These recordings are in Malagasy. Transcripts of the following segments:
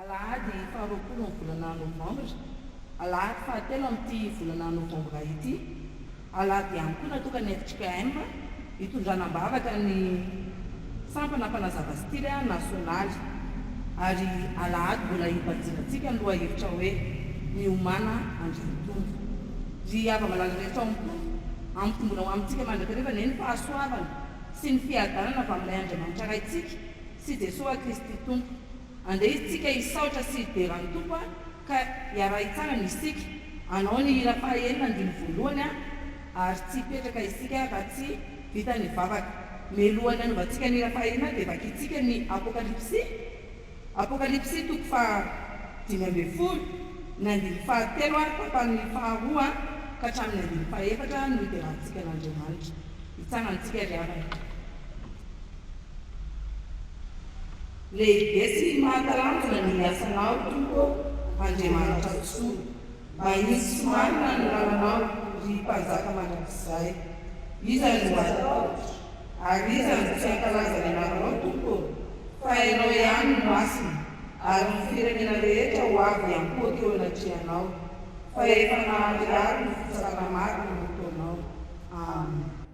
Alahady faharoapolo ny volana novambra, alahady fahatelo amin'ity volana novambra ity, alahady ihany koa natokana ny FJKM, Hitondrana am-bavaka ny sampana mpanazava style nasionaly ary alahady mbola hibanjinantsika ny lohahevitra hoe Miomàna Andry Mitombo. Ry hava-malala rehetra ao am-pony, ampitomboina ho amintsika mandrakariva anie ny fahasoavana sy ny fiadanana avy amin'ilay Andriamanitra Raintsika sy Jesoa Kristy Tompo. Andeha isika hisaotra sy hidera ny Tompo a! Ka iarahy tsara ny isika, anao ny hira faha enina andininy voalohany a, ary tsy hipetraka isika raha tsy vita ny vavaka. Mialohan'ny hanovantsika ny hira faha enina dia vakintsika ny Apokalypsy, Apokalypsy toko faha dimy ambin'ny folo, ny andininy faha telo ary tapany faha roa ka hatramin'ny andininy faha efatra no hiderantsika an'Andriamanitra. Hitsara antsika ry havana. Lehibe sy mahatalanjona ny asanao Tompo ô Andriamanitra Soa mba hisy sy marina ny lalanao ry Mpanjaka mandrakizay Iza no hatahotra ary iza no tsy hankalaza ny anaranao Tompo ô Fa ianao ihany no masina ary ny firenena rehetra ho avy hiankohoka eo anatrehanao Fa efa naharihary ny fitsarana marina ny ataonao Amen.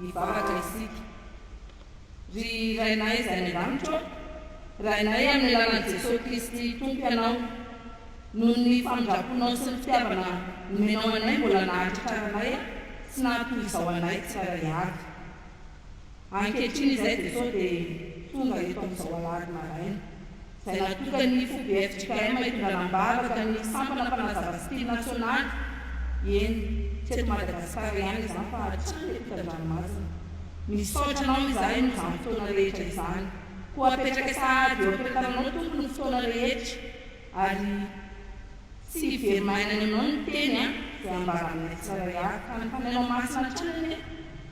Hivavaka isika. Ry Rainay izay any an-danitra ô, Rainay amin'ny alalan'i Jesoa Kristy Tompo Ianao, noho ny famindraponao sy ny fitiavana nomenao anay mbola nahatratraranay sy naha toy izao anay tsirairay avy. Ankehitriny izay dia sao dia tonga eto amin'izao alahady maraina, izay natokan'ny FOBFJKM hitondrana am-bavaka ny sampana mpanazava style nasionaly, eny, tsy eto Madagasikara ihany izany fa hatrany eto Tandranomazina. Misaotra anao izahay noho izany fotoana rehetra izany. Koa apetraka sahady eo am-piantaranao Tompo ny fotoana rehetra ary tsy hivery maina any aminao ny teny izay ambaranay tsirairay, ka ny Fanahinao Masina hatrany anie.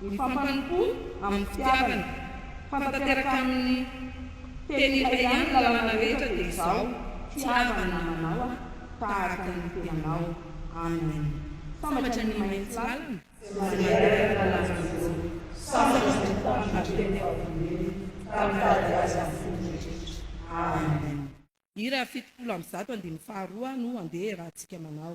Mifampanompo amin'ny fitiavana. Mifantanteraka amin'ny teny iray ihany ny lalàna rehetra dia izao, Tiava ny namanao aho tahaka ny tenanao. Amen. Sambatra ny mahay tsy lalina. Sy mandeha araka ny lalan'i Jehovah. Sambatra ny mpitandro ny teny fahavonoiny, ka mitady azy amin'ny fo mitritritra. Amen. Hira fitopolo amby zato andinin'ny faharoa no handeha iarahantsika manao.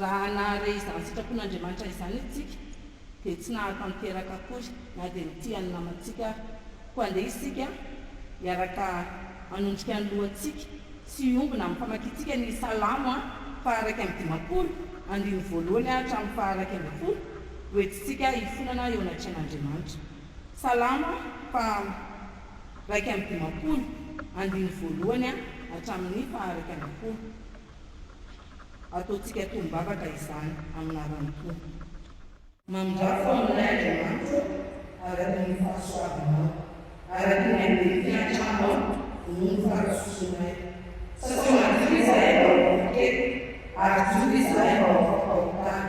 Raha nahare izany sitrapon'Andriamanitra izany isika, dia tsy nahatanteraka akory na dia ny tia ny namantsika aza. Koa andeha isika hiaraka hanondrika ny lohantsika sy hiombona amin'ny famakiantsika ny Salamo faha-iraika amby dimampolo, andininy voalohany hatramin'ny faha-iraika ambin'ny folo, hoentintsika hifonana eo anatrehan'Andriamanitra. Salamo faha iraika amby dimampolo, andininy voalohany hatramin'ny faha iraika ambin'ny folo. Ataontsika tombavaka izany amin'ny anaran'ny Tompo. Mamindrafo aminay Andriamanitra araka ny fahasoavanao, araka ny andevo fiantranao noho ny fahadisoanay. Sasa madio izahay mba ho vokely, ary jono izahay mba ho fahotana.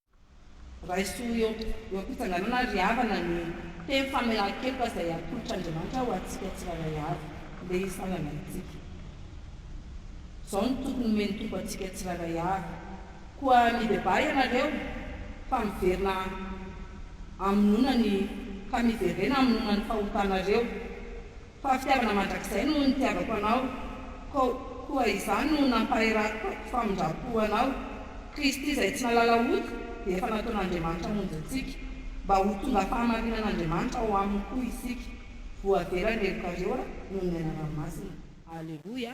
Raiso eo am-pitsanganana ry havana ny teny famelan-keloka izay atolotr'Andriamanitra ho antsika tsirairay avy, ndeha hitsangana isika. Izao no toky nomen'ny Tompo antsika tsirairay avy, Koa mibebaha ianareo, fa miverina hamonoana ny ka miverena hamonoana ny fahotanareo. Fa fitiavana mandrakizay no nitiavako anao, kou koa izany no nampaherako famindram-po anao. Kristy izay tsy nahalala ody dia efa nataon'Andriamanitra hamonjy antsika, mba ho tonga fahamarinan'Andriamanitra ao aminy koa isika. Voavera ny helokareo noho ny anarany masina. Aleloia.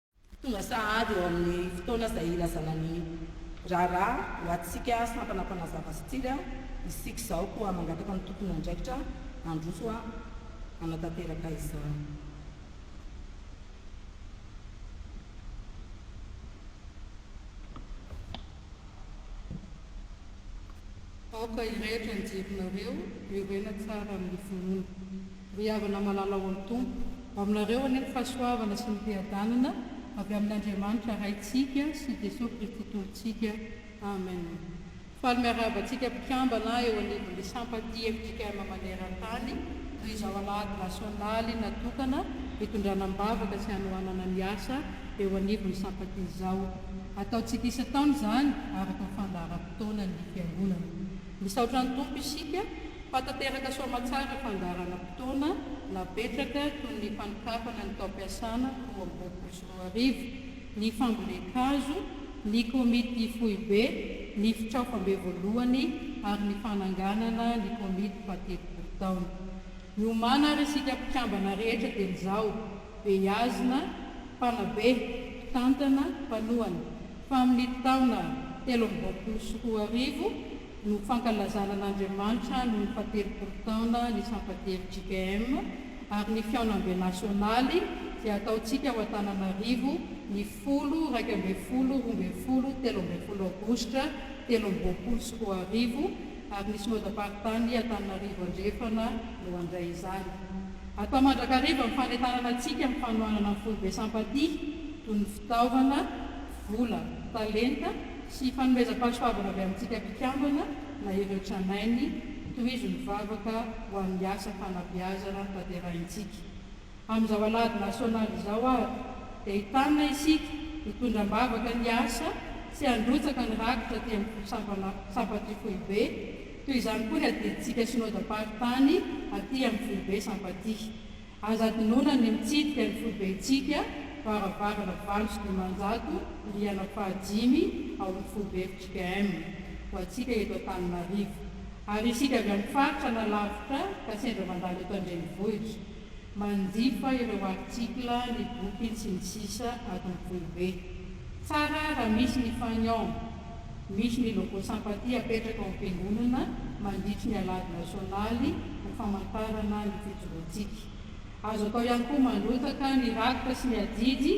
Tonga sahady eo amin'ny fotoana izay hilazana ny raharaha ho antsika sampana mpanazava sy tsiry isika izao koa mangataka ny tompon'andraikitra handroso hanatanteraka izany. Aoka hirehitra ny jerinareo, hoirena tsara amin'ny finoana. Ry havana malala ao amin'ny Tompo, aminareo anie ny fahasoavana sy ny fiadanana avy amin'Andriamanitra Raintsika sy Jesoa Kristy Tompontsika. Amen. Faly miarahaba antsika mpikambana eo anivon'ny Sampatia fjkm maneran-tany, noho izao alahady nasionaly natokana hitondrana am-bavaka sy hanohanana ny asa eo anivon'ny Sampatia izao. Ataontsika isan-taona izany, araka ny fandaharam-potoanan'ny Fiangonana. Misaotra ny Tompo isika fa tanteraka soamatsara fandaharana fotoana napetraka toy ny fanokafana ny taom-piasana roa amby roapolo sy roa arivo, ny fambolen-kazo, ny komity foibe, ny fitraofam-be voalohany ary ny fananganana ny komity fahatelopolo taona. Miomàna ary isika mpikambana rehetra dieny izao, beazina, mpanabe, mpitantana, mpanohana. Tamin'ny taona telo amby roapolo sy roa arivo no fankalazana an'Andriamanitra noho ny fahatelopolo taona ny Sampan-tery JKM ary ny Fihaonambe Nasionaly izay ataontsika ao Antananarivo ny folo iraika ambin'ny folo roa ambin'ny folo telo ambin'ny folo aogositra telo amby roapolo sy roa arivo ary ny Synodam-paritany Antananarivo Andrefana no handray izany. Atao mandrakariva ny fanentanana antsika amin'ny fanohanana ny Foibe Sampan-tia toy ny Fitaovana, vola, talenta sy fanomezam-pahasoavana avy amintsika mpikambana na ireo tranainy, tohizo ny vavaka ho an'ny asa fanabeazana tanterahintsika. Amin'izao Alahady Nasionaly izao ary dia entanina isika hitondra am-bavaka ny asa sy handrotsaka ny rakitra aty amin'ny sampana sampatry foibe, toy izany koa ny adidintsika Synodam-paritany aty amin'ny foibe Sampatia. Aza adinoina ny mitsidika ny foibentsika varavarana valo sy dimanjato rihana fahadimy ao amin'ny foibe fjkm ho antsika eto Antananarivo ary isika avy amin'ny faritra na lavitra ka sendra mandalo eto an-drenivohitra manjifa ireo article ny boky ny sy ny sisa ato amin'ny foibe. Tsara raha misy ny fagnon. Misy ny logo Sympathie apetraka ao am-piangonana mandritry ny Alahady Nasionaly ho famantarana ny fijoroantsika. Azo atao ihany koa mandrotsaka ny rakitra sy ny ajiajy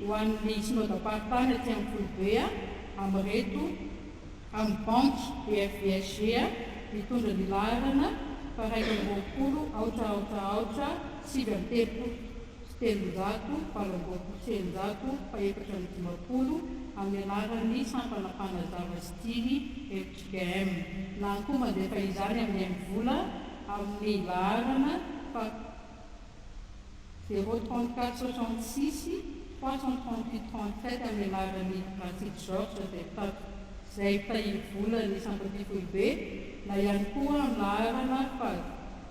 ho an'ny Synodam-paritany aty amin'ny Foibe amin'ireto amin'ny Banky BFVSG mitondra ny laharana faraika amby roapolo aotra aotra aotra sivy amby telopolo. telonjato valo amby roapolo sy eninjato fahefatra amby dimampolo amin'ny alalan'ny sampana mpanazava sy jly fjkm na koa mandefa izany amin'ny mvola amin'ny laharana fa zéro trente quatre soixante six trois cent trente huit trente sept amin'ny alalan'ny Ratsity Georges izay mpitati izay mpitahiry vola ny sampam-pifoibe na ihany koa amin'ny laharana fa.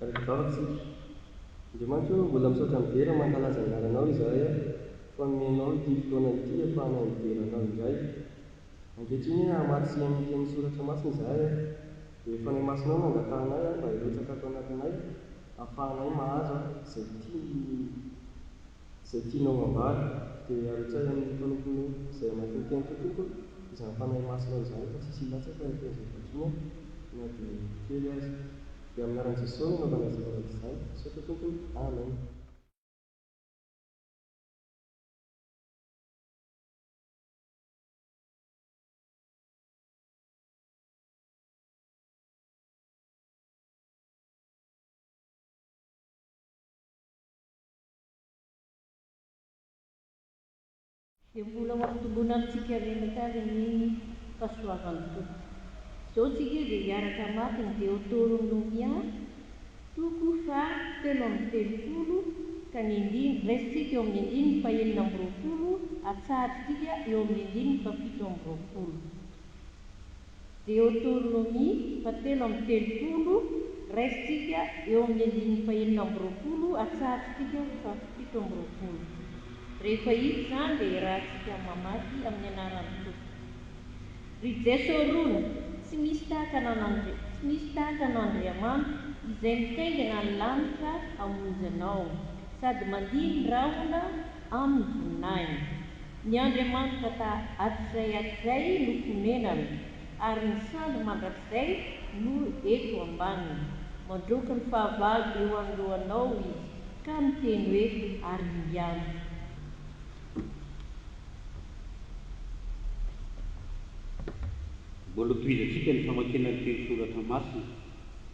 Raikizahotsika. Andriamanitra ô, mbola misaotra midera mankalaza ny anaranao izahay aho, fa nomenao ity fotoana ity hahafahana midera anao indray. Ankehitriny hoe hamaky sy hihaino ny tenin'ny soratra masina izahay aho, dia ny Fanahy Masinao no angatahanay aho mba hirotsaka ato anatinay, hahafahanay mahazo izay tiany Izay tianao hambara dia aretsahy amin'ny mpanomponao izay hamakivaky an'ity tompony izany Fanahy Masina izany fa tsisy hilatsaka ny tenizay vakiana na dia kely aza. Dia amin'ny anaran'i Jesosy no anaovana izay zavatra izany. Misaotra tompony. Amen. Dia mbola ho ampitomboina amintsika menaka ary ny fahasoavan'ny Tompo. Izao tsika dia hiaraka mafy ny Deotoron Nomia, toko faha telo amby telopolo, ka ny andininy, raisintsika eo amin'ny andininy faha enina amby roapolo, atsahadrintsika eo amin'ny andininy faha fito amby roapolo. Deoteronomia fahatelo amby telopolo, Raisintsika eo amin'ny andininy fahenina amby roapolo hatsarin-tsika fahafito amby roapolo. Rehefa hita izany dia irahantsika mamaky amin'ny anaran'ny Tompo. Ry Jeso rony, tsy misy tahaka an'Andri, tsy misy tahaka an'Andriamanitra izay mitaingina ny lanitra hamonjy anao, sady mandihy ny rahona amin'ny voninahiny. Ny Andriamanitra ta atizay atizay no fonenana, ary ny sandry mandrakizay no eto ambaniny. Mandroky ny fahavalo eo anoloanao izy, ka miteny hoe, Ary ingahy! Mbola tohizantsika ny famakiana ny teny soratra masina.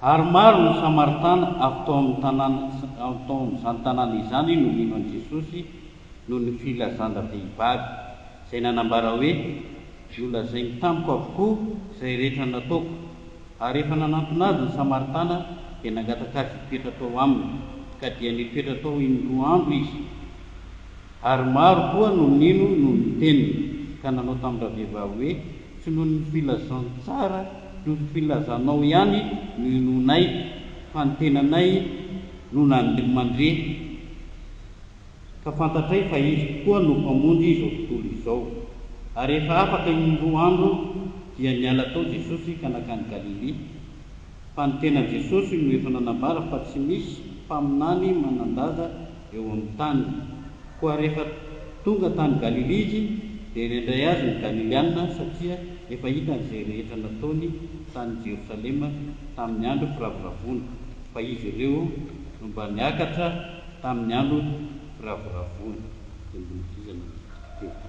Ary maro ny Samaritana avy tao amin'ny tanàna tao amin'izany tanàna izany no nino an'i Jesosy noho ny filazan-dravehivavy, izay nanambara hoe, Nolazainy tamiko avokoa izay rehetra nataoko. Ary rehefa nanantona azy ny Samaritana, dia nangataka azy hitoetra tao aminy, ka dia nitoetra tao in-droa andro izy. Ary maro koa no nino noho ny teniny, ka nanao tamin-dravehivavy hoe, Tsy noho ny filazantsara noho ny filazanao ihany no inoanay, fa ny tenanay no nandre mandre, ka fantatray fa izy tokoa no Mpamonjy izao tontolo izao. Ary rehefa afaka in-droa andro, dia niala tao Jesosy ka nankany Galilia. Fa ny tenan'i Jesosy no efa nanambara fa tsy misy mpaminany manan-daza eo amin'ny tany. Koa rehefa tonga tany Galilia Izy, dia nendrey Azy ny Galiliana, satria efa hitany izay rehetra nataony tany Jerosalema tamin'ny andro firavoravoana, fa izy ireo no mba niakatra tamin'ny andro firavoravoana. Tendrombohitra iza no tena.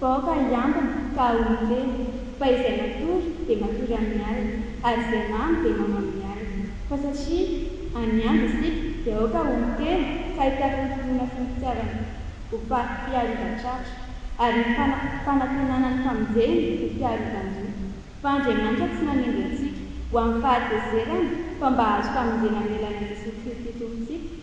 Vahoaka hiambina ka ahoana ve? Fa izay matory dia matory amin'ny alina, ary izay mamo dia mamo amin'ny alina. Fa satria any andro isika dia aoka ho miteny ka hitaky ny finoana sy ny fitiavana ho mpiharivan-tratra, ary ny fanantenana ny famonjena ho mpiharivan-doha. Fa Andriamanitra tsy nanendry antsika ho amin'ny fahatezerana fa mba hahazo famonjena amin'ny alalan'i Jesoa Kristy Tompontsika.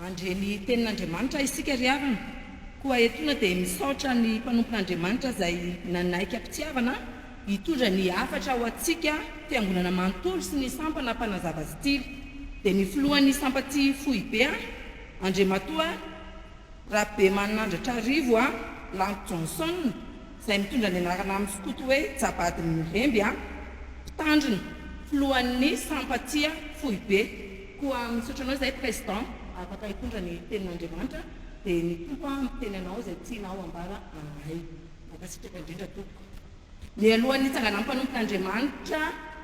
Handre ny tenin'Andriamanitra isika ry havana. Koa etoana dia misaotra ny mpanompon'Andriamanitra izay nanaiky am-pitiavana hitondra ny hafatra ho antsika fiangonana manontolo sy ny sampana mpanazava stily. Dia ny filohan'ny sampaty foibe an, Andriamatoa Rabemanandratra Rivo an, Lanto Johnson, izay mitondra ny anarana amin'ny skoto hoe Jabadin'ny Remby an, mpitandrina, filohan'ny sampaty foibe. Koa misaotra anao izay President afaka hitondra ny tenin'Andriamanitra dia ny Tompo an miteny anao izay tianao ambara aminay. Mankasitraka indrindra tompoko. Mialoha ny hitsanganan'ny mpanompon'Andriamanitra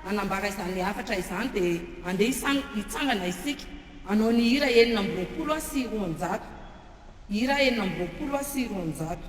hanambara izany hafatra izany dia andeha hitsangana isika hanao ny hira enina amby roapolo sy roanjato. Hira enina amby roapolo sy roanjato.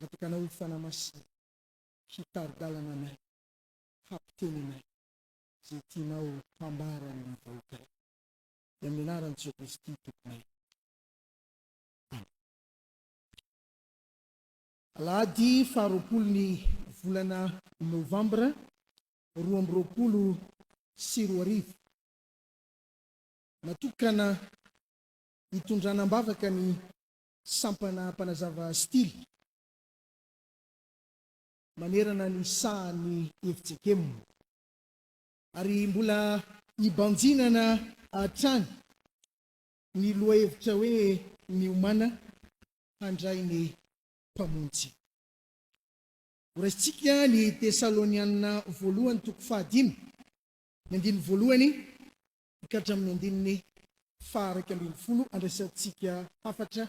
Natokana ho Fanahy Masina hitari-dalana anay, hampiteny anay izay tianao hambara ny vahoakanao. Dia amin'ny anaran'i Jesoa Kristy Tomponay. Amen. Alahady faha roapolo ny volana Novambra roa amby roapolo sy roa arivo. Natokana hitondrana am-bavaka ny Sampana mpanazava stily manerana ny sahan'ny efijekem. Ary mbola ibanjinana hatrany ny lohahevitra hoe Miomàna handray ny Mpamonjy. Horaisintsika ny Tesalonianina Voalohany toko fahadimy, ny andininy voalohany ka hatramin'ny andininy faha iraika ambin'ny folo andraisantsika hafatra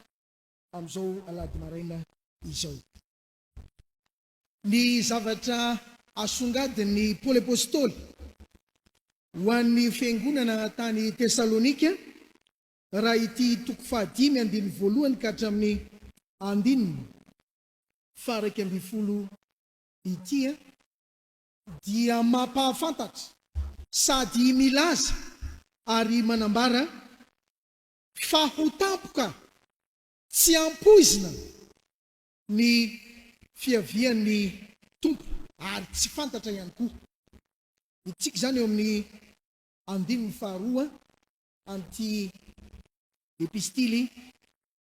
amin'izao alahady maraina izao. Ny zavatra asongadin'i Paoly Apostoly ho an'ny fiangonana tany Tesalonika raha ity toko faha dimy andininy voalohany ka hatramin'ny andininy faha iraika ambin'ny folo ity a. dia mampahafantatra sady milaza ary manambara fa ho tampoka tsy ampoizina ny fiavian'ny Tompo ary tsy fantatra ihany koa. Hitsiky izany eo amin'ny andininy faharoa an'ity Epistily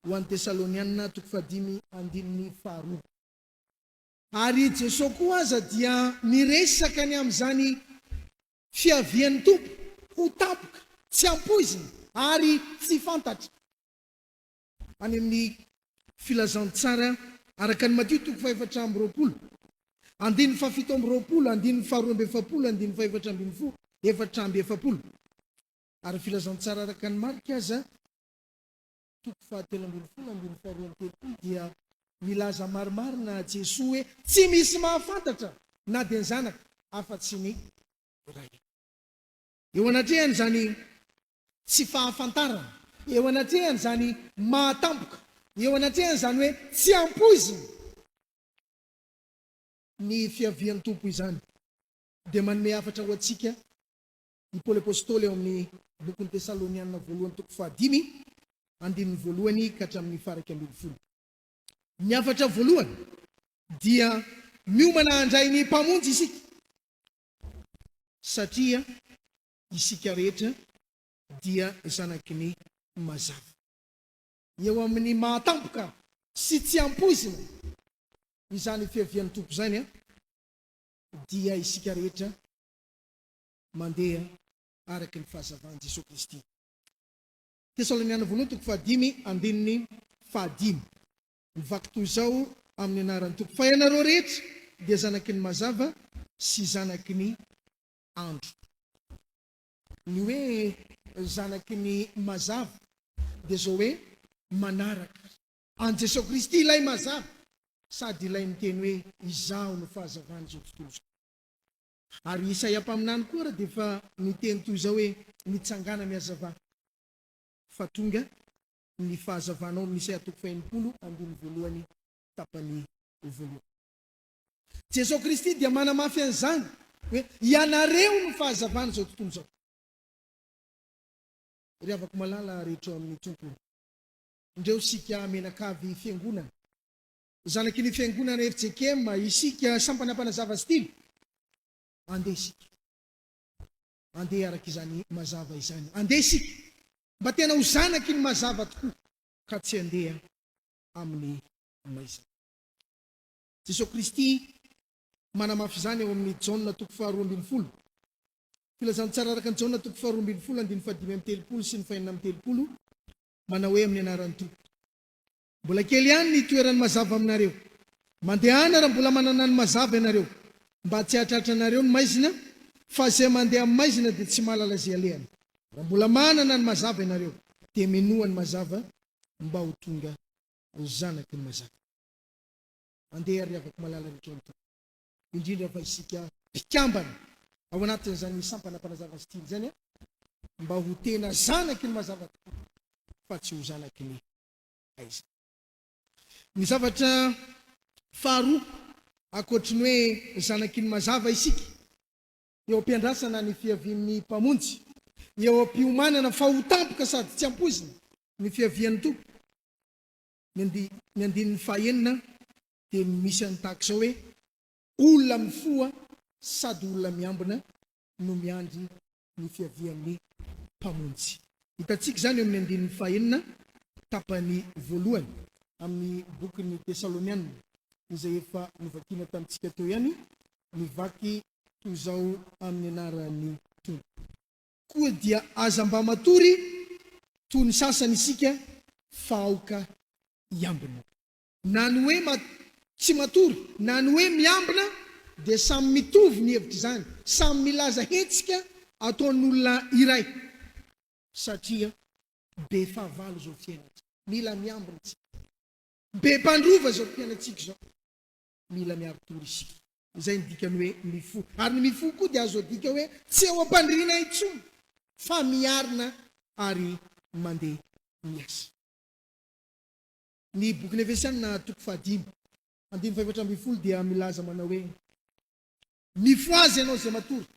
ho an'ny Tesalonianina, toko fahadimy, andininy faharoa. Ary i Jesoa koa aza dia miresaka ny amin'izany fiavian'ny Tompo ho tampoka, tsy ampoizina ary tsy fantatra, any amin'ny Filazantsara araka an'i Matio toko fahefatra amby roapolo, andininy fahafito amby roapolo, andininy faharoa amby efapolo, andininy fahefatra ambin'ny folo, efatra amby efapolo. Ary Filazantsara araka an'i Marka aza. toko fahatelo ambin'ny folo andininy faharoa amby telopolo dia milaza marimarina Jesoa hoe tsy misy mahafantatra na dia ny Zanaka afa tsy ny Ray. Eo anatrehan' izany tsy fahafantarana, eo anatrehan' izany mahatampoka, eo anatrehan' izany hoe tsy ampoizina ny fiavian' Tompo izany dia manome hafatra ho antsika i Paoly Apostoly ao amin'ny bokin'ny Tesalonianina voalohany toko fahadimy, andininy voalohany ka hatramin'ny faha iraika ambin'ny folo. Ny hafatra voalohany dia miomana handray ny Mpamonjy isika, satria isika rehetra dia zanaky ny mazava. Eo amin'ny maha tampoka sy tsy ampoizina izany fiavian'ny Tompo izany dia isika rehetra mandeha araka ny fahazavan'i Jesoa Kristy. Tesaloniana Voalohany toko fahadimy andininy fahadimy. Mivaky toy izao amin'ny anaran'ny Tompo, fa ianareo rehetra dia zanaky ny mazava sy zanaky ny andro. Ny hoe zanaky ny mazava dia izao hoe manaraka. An'i Jesoa Kristy ilay mazava sady ilay miteny hoe izaho no fahazavan'izao tontolo izao. Ary Isaia mpaminany koa ary dia efa niteny toy izao hoe, Mitsangàna mihazavà, fa tonga ny fahazavànao, amin'i Isaia toko fahenimpolo, andininy voalohany, tapany voalohany. Jesoa Kristy dia manamafy an'izany hoe, Ianareo no fahazavan'izao tontolo izao. Ry havako malala rehetra ao amin'ny Tompo, ndreo isika menakavy fiangonana, Zanaky ny fiangonana fjkm isika, sampana mpanazava stilo. Andeha isika. Andeha araka izany mazava izany. Andeha isika mba tena ho zanaky ny mazava tokoa, ka tsy andeha amin'ny maizina. Jesoa Kristy manamafy izany ao amin'ny Jaona toko faharoa ambin'ny folo. Filazantsara araka ny Jaona toko faharoa ambin'ny folo andininy fahadimy amby telopolo sy ny fahenina amby telopolo, manao hoe, Amin'ny anaran'ny Tompo. Mbola kely ihany ny toeran'ny mazava aminareo. Mandehana raha mbola manana ny mazava ianareo, mba tsy hahatratra anareo ny maizina, fa izay mandeha amin'ny maizina dia tsy mahalala izay alehany. Raha mbola manana ny mazava ianareo, dia minoa ny mazava, mba ho tonga ho zanaky ny mazava. Andeha, ry havako malala rehetra ao amin'ny Tompo, indrindra fa isika mpikambana ao anatin'izany sampana Mpanazava Steel izany, mba ho tena zanaky ny mazava tokoa, fa tsy ho zanaky ny aiza. Ny zavatra faharoa, ankoatry ny hoe zanaky ny mazava isika, eo am-piandrasana ny fiavian'ny Mpamonjy, eo am-piomanana fa ho tampoka sady tsy ampoizina ny fiavian'ny Tompo. Ny andininy fahaenina dia misy an'ny tahaka izao hoe, Olona mifoha sady olona miambina no miandry ny fiavian'ny Mpamonjy. Hitantsika izany eo amin'ny andininy fahenina, tapany voalohany amin'ny bokin'ny Tesalonianina, izay efa novakina tamintsika teo ihany, mivaky toy izao amin'ny anaran'ny Tompo. Koa dia aza mba matory toy ny sasany isika fa aoka hiambina. Na ny hoe ma tsy matory na ny hoe miambina dia samy mitovy ny hevitr'izany, samy milaza hetsika ataon'olona iray satria be fahavalo izao fiainantsika, mila miambina isika, be mpandrova izao mpianatsika izao, mila miaro tory isika. Izay ny dikan'ny hoe mifoha. Ary ny mifoha koa dia azo adika hoe tsy eo am-pandriana intsony fa miarina ary mandeha miasa. Ny Bokin'ny Efesiana toko fahadimy, andininy fahefatra ambin'ny folo dia milaza manao hoe, Mifohaza ianao izay matory,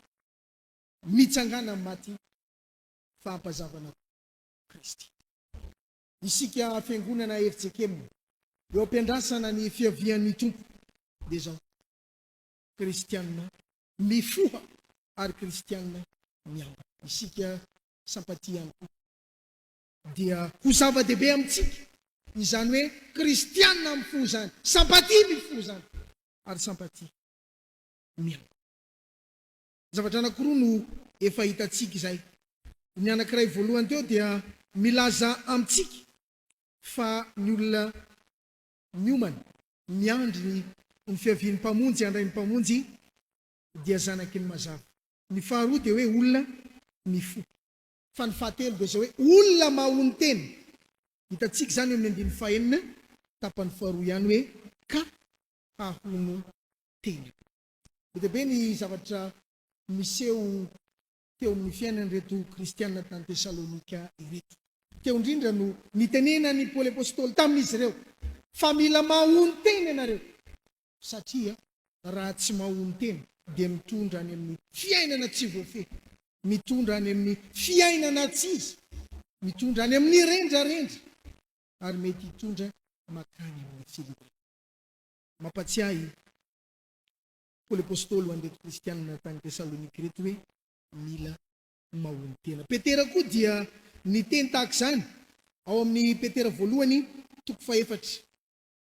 mitsangàna amin'ny maty, fa ampazavana Kristy. Isika Fiangonana FJKM eo am-piandrasana ny fiavian'ny Tompo dia izao, Kristiana mifoha ary Kristiana miambina. Isika Sampantia ihany koa dia ho zava-dehibe amintsika izany hoe kristiana mifoha izany, sympathie mifoha izany, ary sympathie miango. Zavatra anankiroa no efa hitantsika izay. Ny anankiray voalohany teo dia milaza amintsika fa ny olona miomana miandry ny ny fiavian'ny Mpamonjy handray ny Mpamonjy dia zanaky ny mazava. Ny faharoa dia hoe olona mifoha. Fa ny fahatelo dia izao hoe, olona mahon'ny tena. Hitantsika izany eo amin'ny andininy fahenina, tapany faharoa ihany hoe, ka hahono tena. Be dia be ny zavatra niseho teo amin'ny fiainan'ireto kristiana tany Tesalonika ireto. Teo indrindra no nitenenan'i Paoly apostoly tamin'izy ireo fa mila mahono tena ianareo. Satria raha tsy mahonon-tena dia mitondra any amin'ny fiainana tsy voafehy, mitondra any amin'ny fiainana tsy izy, mitondra any amin'ny rendrarendra ary mety hitondra makany amin'ny filiana. Mampatsiahy i Paoly Apôstôly ho an'ireto kristiana tany Tesalônika ireto hoe mila mahonon-tena. Petera koa dia niteny tahaka izany ao amin'ny Petera voalohany toko fahefatra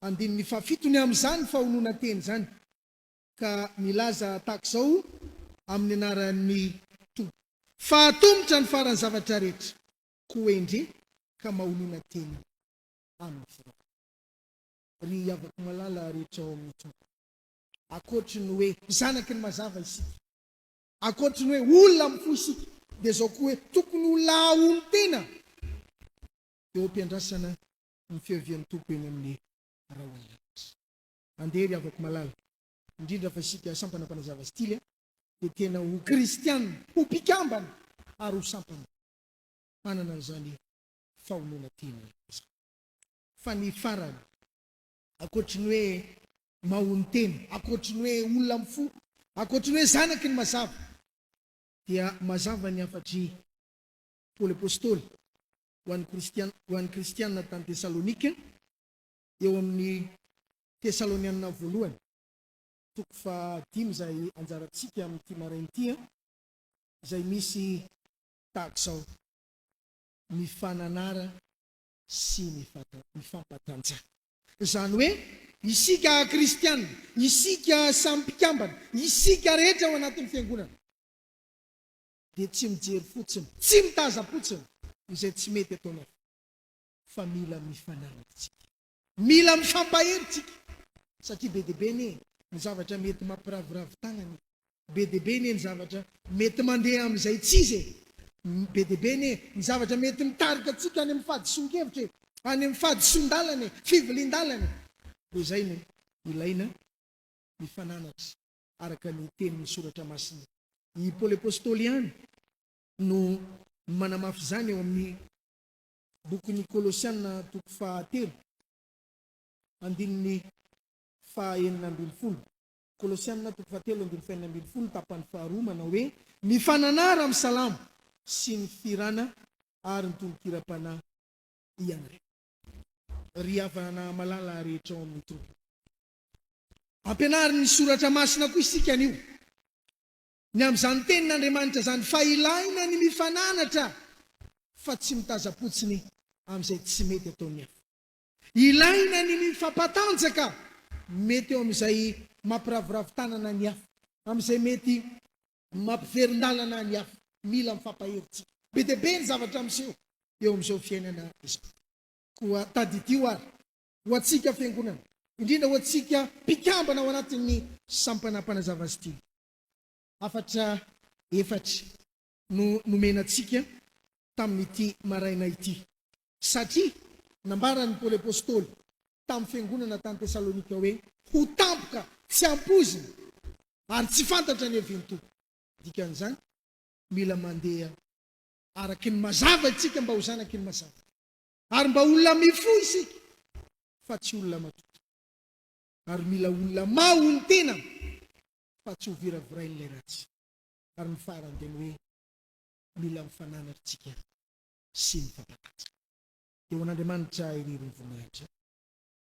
Andininy fahafito ny amin'izany fahononan-teny izany, ka milaza tahaka izao amin'ny anaran'ny Tompo. Fa hatomotra ny faran'ny zavatra rehetra, koa hendre ka mahonona teny amin'ny firaisana. Ry havako malala rehetra ao amin'ny Tompo, ankoatry ny hoe zanaky ny mazava isika, ankoatry ny hoe olona amin'ny fo isika, dia izao koa hoe tokony ho lahaolon-tena eo am-piandrasana ny fiavian'ny Tompo eny amin'ny rahona rehetra. Andeha ry havako malala, indrindra fa isika sampana mpanazava stily dia tena ho kristiana, ho mpikambana ary ho sampana manana an'izany fahonona tian'ny Ray izany. Fa ny farany, ankoatry ny hoe mahonotena, ankoatry ny hoe olona mifoha, ankoatry ny hoe zanaky ny mazava, dia mazava ny hafatr'i Paoly Apostoly ho an'ny Kristiana ho an'ny Kristiana tany Tesalonika, eo amin'ny Tesaloniana Voalohany, toko fahadimy izay anjarantsika amin'ity maraina ity, izay misy tahaka izao, Mifananara sy mifampatanja. Izany hoe, isika Kristiana, isika samy mpikambana, isika rehetra ao anatin'ny Fiangonana. dia tsy mijery fotsiny, tsy mitazam-potsiny izay tsy mety ataonao fa mila mifanaraka tsika. Mila mifampahery tsika satria be dia be anie ny zavatra mety mampiraviravy tagnana e, be dia be anie ny zavatra mety mandeha amin'izay tsy izy e, be dia be anie ny zavatra mety mitarika antsika any amin'ny fahadisoan-kevitra e, any amin'ny fahadisoan-dalana e, fivilian-dalana e, dia izay no ilaina ny fananatra araka ny tenin'ny Soratra Masina. I Paoly Apostoly ihany no manamafy izany ao amin'ny bokin'ny Kolosiana toko fahatelo, andininy fahenina ambin'ny folo. Kolosiana toko fahatelo, andininy fahenina ambin'ny folo, tapany faharoa, manao hoe, Ny fananara amin'ny salamo sy ny firana ary ny tononkiram-panahy ianareo, ry havana malala rehetra ao amin'ny tompoko. Ampianarin'ny Soratra Masina koa isika anio. Ny amin'izany Tenin'Andriamanitra izany fa ilaina ny mifananatra fa tsy mitazam-potsiny amin'izay tsy mety ataon'ny hafa. Ilaina ny mifampatanjaka mety eo amin'izay mampiraviravy tanana ny hafa, amin'izay mety mampiverin-dalana ny hafa. Mila mifampahery tsika. Be dia be ny zavatra miseho eo amin'izao fiainana izao. Koa tadidio ary ho antsika Fiangonana, indrindra ho antsika mpikambana ao anatin'ny Sampana Mpanazava azy ity. Hafatra efatra no nomena antsika tamin'ity maraina ity, satria nambaran'i Paoly Apostoly tamin'ny Fiangonana tany Tesalonika hoe, Ho tampoka, tsy ampoizina, ary tsy fantatra ny hevinto. Dikan'izany, mila mandeha araka ny mazava isika mba ho zanaky ny mazava. ary mba olona mifoha isika fa tsy olona matotra ary mila olona maha olo tena fa tsy ho viravirain'ilay ratsy ary ny farany dia ny hoe mila mifanana ry tsika sy mifampanaja eo an'Andriamanitra irery ny voninahitra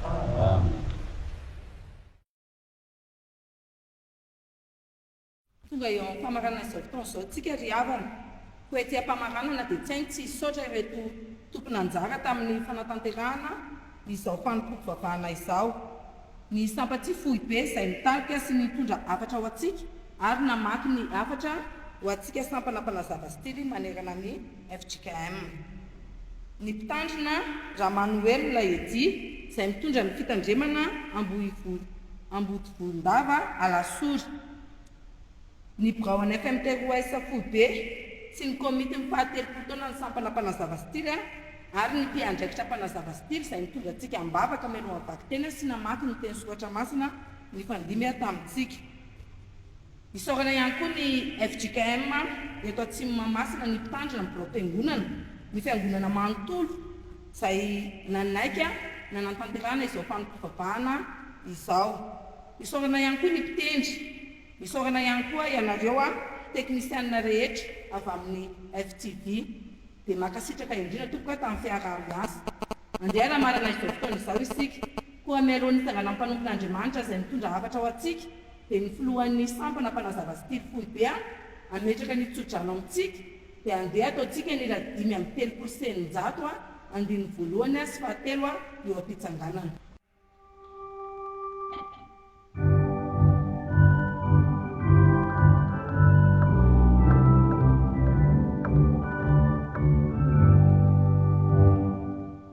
Amena. Tonga eo amin'ny famaranana izao fotoana izao isika ry havana. Koa ety am-pamaranana dia tsy hay ny tsy hisaotra ireto tompon'anjara tamin'ny fanatanterahana izao fanompoam-pivavahana izao. Ny Sampatia foibe izay nitarika sy nitondra hafatra ho antsika ary namaky ny hafatra ho antsika sampana mpanazava stily manerana ny. fjkm. Ny mpitandrina, Ramanoelina Eddy, izay mitondra ny fitandremana Ambohivolo, Ambodivolondava, Alasory. Ny birao an'ny FMTOS foibe sy ny komitin'ny fahatelopolo taonan'ny sampana mpanazava style ary ny mpiandraikitra mpanazava style izay nitondra antsika am-bavaka mialohan'ny vakiteny sy namaky ny teny soratra masina nifandimby tamintsika. Isaorana ihany koa ny fjkm eto Atsimo Mahamasina ny mpitandrina ny biraom-piangonana, ny fiangonana manontolo izay nanaiky nanantanterahana izao fanompoam-pivavahana izao. Isaorana ihany koa ny mpitendry. Isaorana ihany koa ianareo teknisianina rehetra avy amin'ny FTV. Dia mankasitraka indrindra tompoko tamin'ny fiaraha-miasa. Andeha hanamarana izao fotoana izao isika. Koa mialohan'ny hitsanganan'ny mpanompon'Andriamanitra izay mitondra hafatra ho antsika dia ny filohan'ny sampana mpanazava sy tily foibe an, ametraka ny tsodrano amintsika dia andeha ataontsika ny iray dimy amby telopolo sy eninjato an, andininy voalohany an sy fahatelo an eo am-pitsanganana.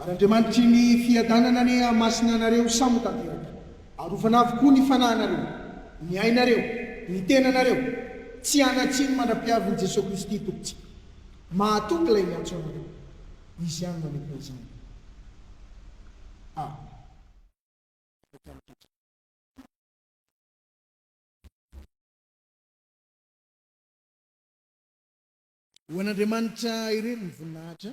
Ary Andriamanitry ny fiadanana anie hahamasina anareo samy ho tanteraka. Arovana avokoa ny fanahinareo, ny ainareo, ny tenanareo, tsy hanan-tsiny mandra-piavin'i Jesoa Kristy Tompontsika. Mahatoky Ilay miantso anareo. Izy ihany manokona izany. Amen. Ho an'Andriamanitra irery ny voninahitra.